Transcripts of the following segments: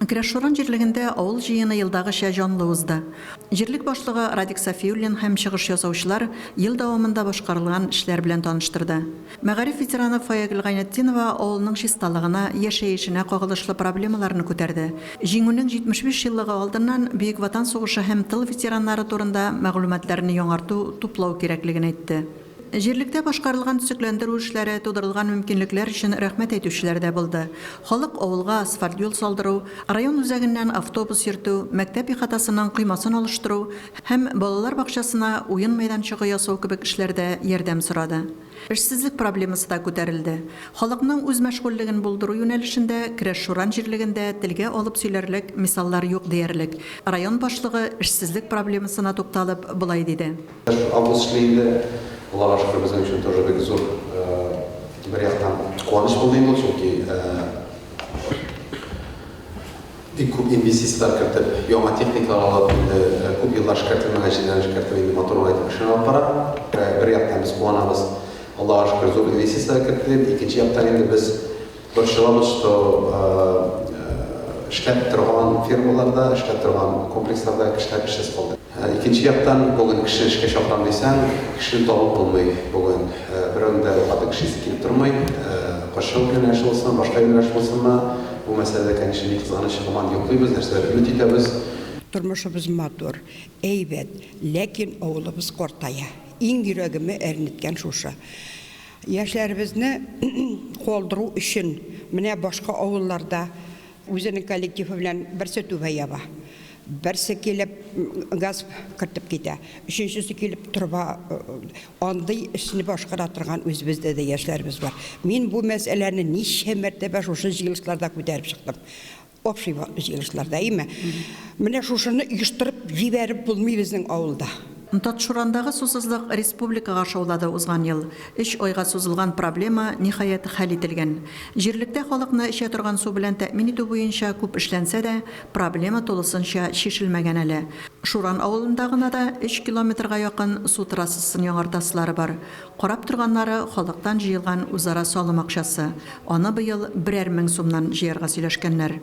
Керәшшуран җирлегендә авыл җыены елдагыча җанлы узды. Җирлек башлыгы Радик Сафиуллин һәм чыгыш ясаучылар ел дәвамында башкарылган эшләр белән таныштырды. Мәгариф ветераны Фаягөл Гайнетдинова авылның чисталыгына, яшәешенә кагылышлы проблемаларны күтәрде. Җиңүнең 75 еллыгы алдыннан Бөек Ватан сугышы һәм тыл ветераннары турында мәгълүматларны яңарту, туплау кирәклеген әйтте. Җирлектә башкарылган төзекләндерү эшләре, тудырылган мөмкинлекләр өчен рәхмәт әйтүчеләр дә булды. Халык авылга асфальт юл салдыру, район үзәгеннән автобус йөртү, мәктәп ихатасының коймасын алыштыру һәм балалар бакчасына уен мәйданчыгы ясау кебек эшләрдә ярдәм сорады. Эшсезлек проблемасы да күтәрелде. Халыкның үз мәшгульлеген булдыру юнәлешендә Керәшшуран җирлегендә телгә алып сөйләрлек мисаллар юк диярлек. Район башлыгы эшсезлек проблемасына тукталып, болай диде. Август чыгы инде, Аллага шөкер, безнең өчен тоже бик зур, бер яктан куаныч булды инде ул, чөнки бик күп инвестицияләр кертеп, яңа техникалар алып, инде күп еллар эшкәртелмәгән җирләрне эшкәртеп, инде матур итеп эшләр алып бара. Бер яктан без куанабыз, Аллага шөкер, зур инвестицияләр кертелеп, икенче яктан инде без Борчылабыз, что эшләп торган фермаларда, эшләп торган комплексларда кешеләр эшсез калды. Икенче яктан, бүген кеше эшкә чакырам дисәң, кешене табып булмый бүген. Берәүнең дә хатын кеше исе килеп тормый. Кошчылык юнәлеше булсын, башка юнәлеш булсынмы, бу мәсьәләдә, конечно, ни кызганыч, һаман йоклыйбыз, нәрсәдер өмет итәбез. Тормышыбыз матур, әйбәт, ләкин авылыбыз картая. Иң йөрәгемә әрнеткән шушы. Яшьләребезне колдыру өчен менә башка авылларда үзенең коллективы белән берсе түбә яба, берсе килеп газ кертеп китә, өченчесе килеп труба андый эшне башкара торган үзебездә дә яшьләребез бар. Мин бу мәсьәләне ничә мәртәбә шушы җыелышларда күтәреп чыктым. Общий җыелышларда, әйеме? Менә шушыны оештырып җибәреп булмый безнең авылда. Татшурандагы сусызлык республикага шаулады Узган ел өч айга сузылган проблема, ниһаять, хәл ителгән. Җирлектә халыкны эчә торган су белән тәэмин итү буенча күп эшләнсә дә, проблема тулысынча чишелмәгән әле. Шуран авылында гына да өч километрга якын су трассасын яңартасылары бар. Карап торганнары халыктан җыелган үзара салым акчасы, аны быел берәр мең сумнан җыярга сөйләшкәннәр.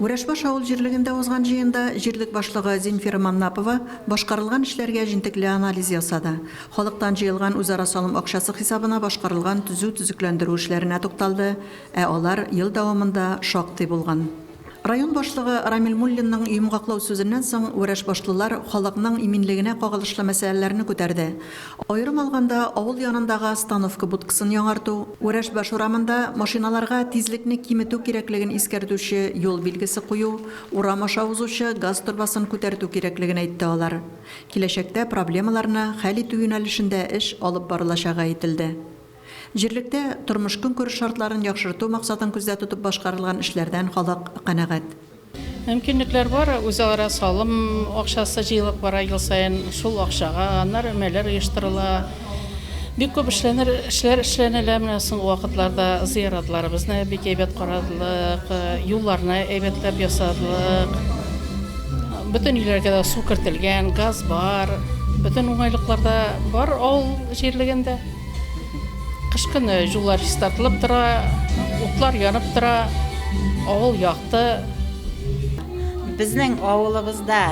Вәрәшбаш авыл җирлегендә узган җыенда җирлек башлыгы Зинфира Маннапова башкарылган эшләргә җентекле анализ ясады, халыктан җыелган үзара салым акчасы хисабына башкарылган төзү-төзекләндерү эшләренә тукталды, ә алар ел дәвамында шактый булган. Район башлыгы Рамил Муллинның йомгаклау сүзеннән соң вәрәшбашлылар халыкның иминлегенә кагылышлы мәсьәләләрне күтәрде. Аерым алганда, авыл янындагы остановка будкасын яңарту, Вәрәшбаш урамында машиналарга тизлекне киметү кирәклеген искәртүче юл билгесе кую, урам аша узучы газ торбасын күтәртү кирәклеген әйтте алар. Киләчәктә проблемаларны хәл итү юнәлешендә эш алып барылачагы әйтелде. Җирлектә тормыш-көнкүреш шартларын яхшырту максатын күздә тотып башкарылган эшләрдән халык канәгать. Мөмкинлекләр бар, үзара салым акчасы җыелып бара ел саен. Шул акчага аннары өмәләр оештырыла. Бик күп эшләнер эшләр эшләнелә. Менә соңгы вакытларда зыяратларыбызны бик әйбәт карадылык, юлларны әйбәтләп ясадылык. Бөтен өйләргә дә су кертелгән, газ бар. Бөтен уңайлыклар да бар авыл җирлегендә. Кыш көне җулар чистартылып тора, утлар янып тора, авыл якты. Безнең авылыбызда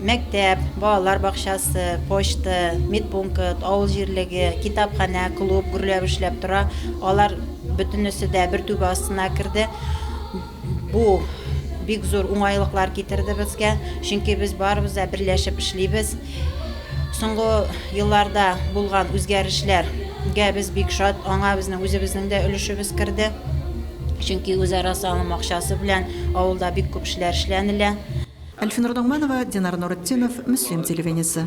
мәктәп, балалар бакчасы, почта, медпункт, авыл җирлеге, китапханә, клуб гөрләп эшләп тора. Алар бөтенесе дә бер түбә астына керде. Бу бик зур уңайлыклар китерде безгә, чөнки без барыбыз да берләшеп эшлибез. Соңгы елларда булган үзгәрешләргә без бик шат, аңа безнең үзебезнең дә өлешебез керде. Чөнки үзара салым акчасы белән авылда бик күп эшләр эшләнелә. Әлфинур Ногманова, Динар Нуретдинов, Мөслим телевидениесе.